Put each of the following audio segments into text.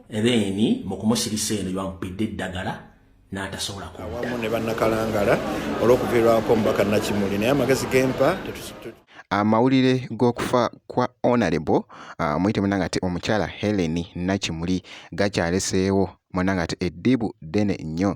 ebeeni mu kumusirisa eno yamupidde eddagala n'atasobola kuwamu ne bannakalangala olw'okuviirwako omubaka nakimuli naye amagezi gempa amawulire g'okufa kwa honorable ah, muyite munanga ti omukyala helen nakimuli gakyaleseewo munanga ti eddibu ddene nnyo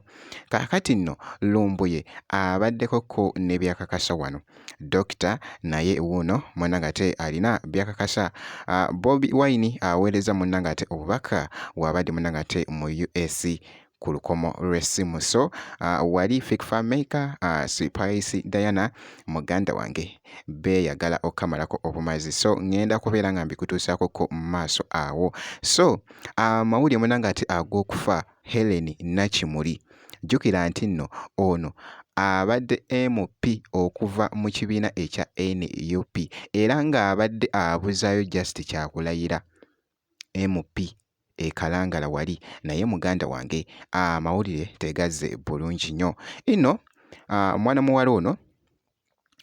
kakati nno lumbuye abaddeko ko nebyakakasa wano Dokita naye wuuno mwana ng'ate alina by'akakasa. Ah, Bobi Wine aweereza munna ng'ate obubaka waabadde munna ng'ate mu US ku lukomo lw'essimu. So ah, wali Fik Fameica, ah, Spice Diana muganda wange beeyagala okukamalako obumazi. So ng'enda kubeera nga mbikutuusaako ko maaso awo. So amawulire munna ng'ate ag'okufa Hellen Nakimuli. Jjukira nti nno ono abadde MP okuva mu kibiina ekya nup era ng'abadde abuzaayo Just Kyakulayira MP e Kalangala wali naye muganda wange amawulire tegazze bulungi nnyo. Inno mwana muwala ono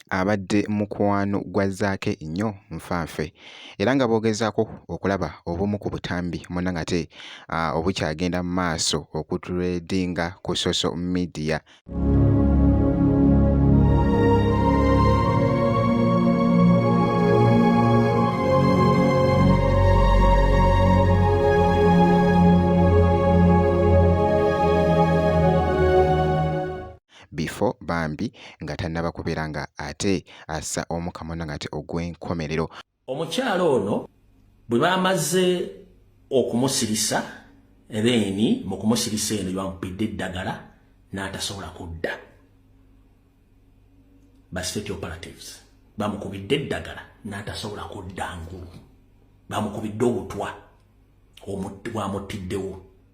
abadde mukwano gwa Zaake nnyo nfanfe era nga boogezaako okulaba obumu ku butambi muna ngate ah, obukyagenda mu maaso okutredinga ku social media. before bambi nga tannaba kubeera nga ate assa omu kamona nga ate ogw'enkomerero omukyala ono bwe bamaze okumusirisa ebeeni mu kumusirisa eno gyebamupidde eddagala n'atasobola kudda ba state operatives bamukubidde eddagala n'atasobola kudda ngulu bamukubidde obutwa bwamuttiddewo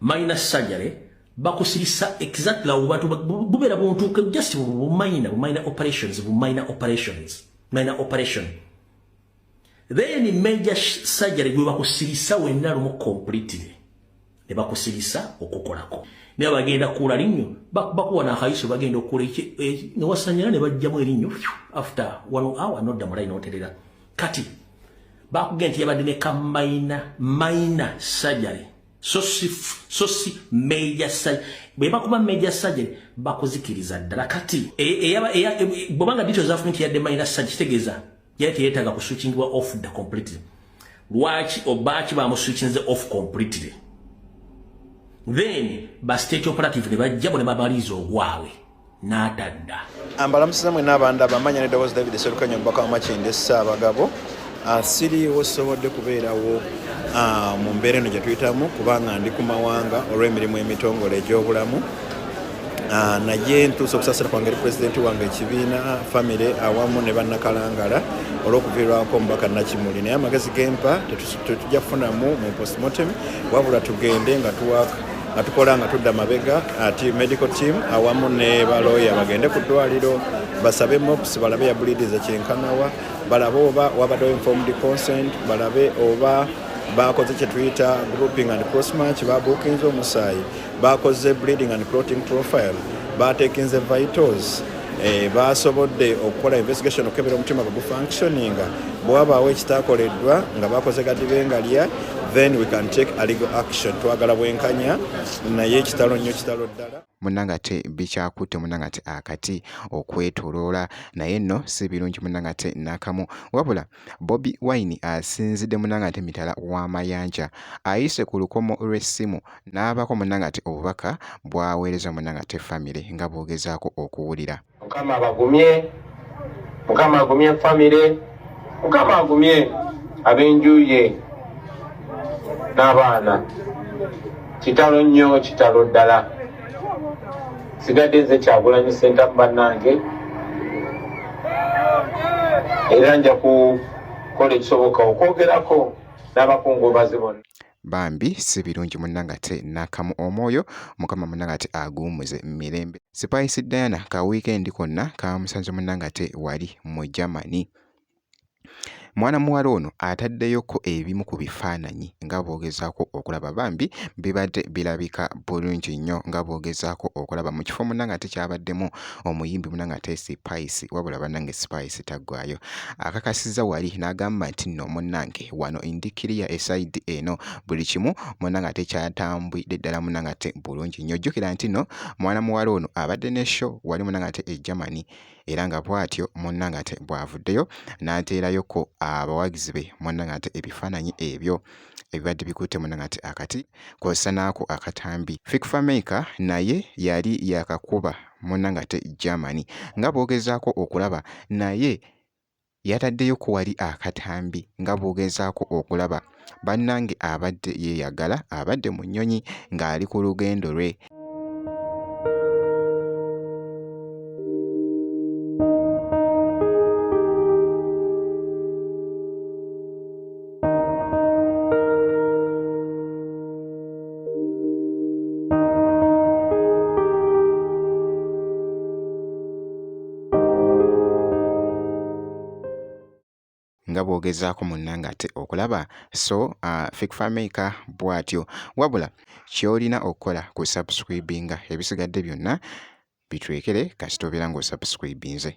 minor surgery bakusirisa exactly awo bantu bubera buntu just bu minor bu minor operations bu minor operations minor operation then in major surgery gwe bakusirisa wenna lumu completely ne bakusirisa okukolako naye bagenda kuula linnyo bakuwa nakaiso bagenda okuula e, newasanyira ne bajjamu erinnyo after one hour nodda mulayi noterera kati bakugenda nti yabadde ne ka minor minor surgery so si so si major surgery bwe bakuba major surgery bakuzikiriza ddala kati e, e, e, bwobanga dito zafunye nti yadde minor surgery kitegeeza yali teyeetaaga kuswitchingibwa off the completely lwaki obaaki bamuswitchinze off completely then ba state operative ne bajjabo ne babaliiza ogwabwe n'atadda ambalamusiza mwe n'abanda bamanya ne dawoozi david serukanya omubaka wa makinde ssaabagabo ah, siriiwo sobodde kubeerawo ah, mu mbeera eno gye tuyitamu kubanga ndi ku mawanga olw'emirimu emitongole egy'obulamu Ah, naye ntuusa okusasira kwange eri pulezidenti wange ekibiina famire awamu ne bannakalangala olw'okuviirwako omubaka nakimuli naye amagezi gempa tetujja kufunamu mu postmortem wabula tugende nga tuwaka nga tukola nga tudda mabega ati uh, medical team awamu ne balooya bagende ku ddwaliro basabe mops balabe yabulidiza kyenkanawa balabe oba wabaddewo informed consent balabe oba bakoze kyetuyita grouping and cross match babuukinze omusaayi bakoze bleeding and cloting profile batekinze vitals Eh, baasobodde okukola investigation okukebera omutima gwe gufunctioninga bwewabaawo ekitakoleddwa nga bakoze gadibengalya then we can take a legal action twagala bwenkanya naye ekitalo nnyo kitalo ddala munanga te bikyakutte munanga te akati okwetoloola naye nno si birungi munanga te nakamu wabula Bobi Wine asinzidde munangate mitala w'amayanja ayise ku lukomo lw'essimu n'abako munangate obubaka bwaweereza munangate famire nga bwogezaako okuwulira. Mukama abagumye, Mukama agumye famire, Mukama agumye ab'enjuye n'abaana. Kitalo nnyo, kitalo ddala. sigadde nze kyagulanyi sentamu bannange era nja kukola ekisoboka okwogerako n'abakungubazi bonna bambi si birungi munnanga ate n'akamu omwoyo mukama munnanga ate aguwumuze mirembe sipayisi diana ka wiikendi konna kamusanze munnanga ate wali mu germany Mwana muwala ono ataddeyoko ebimu ku bifaananyi nga bw'ogezaako okulaba bambi bibadde birabika bulungi nnyo nga bw'ogezaako okulaba mu kifo munna ng'ate kyabaddemu omuyimbi munna ng'ate Sipayisi wabula bannange Sipayisi taggwayo akakasizza wali n'agamba nti nno munnange wano indikiriya esayidi eno buli kimu munna ng'ate kyatambwidde ddala munna ng'ate bulungi nnyo jjukira nti nno mwana muwala ono abadde ne sho wali munna ng'ate e Germany era nga bw'atyo munnange ate bw'avuddeyo n'ateerayoko abawagizi be munnange ate ebifaananyi ebyo ebibadde bikutte munnange ate akati kw'ossa n'ako akatambi. Fik Fameica naye yali yaakakuba munnange ate Germany nga bw'ogezaako okulaba naye yataddeyo ku wali akatambi nga bw'ogezaako okulaba bannange abadde yeeyagala abadde mu nnyonyi ng'ali ku lugendo lwe nga bwogezaako munnange ate okulaba so uh, fikfamaker bwatyo wabula kyolina okukola ku subscribinga ebisigadde byonna bitwekere kasita obeera ng'osubscribinze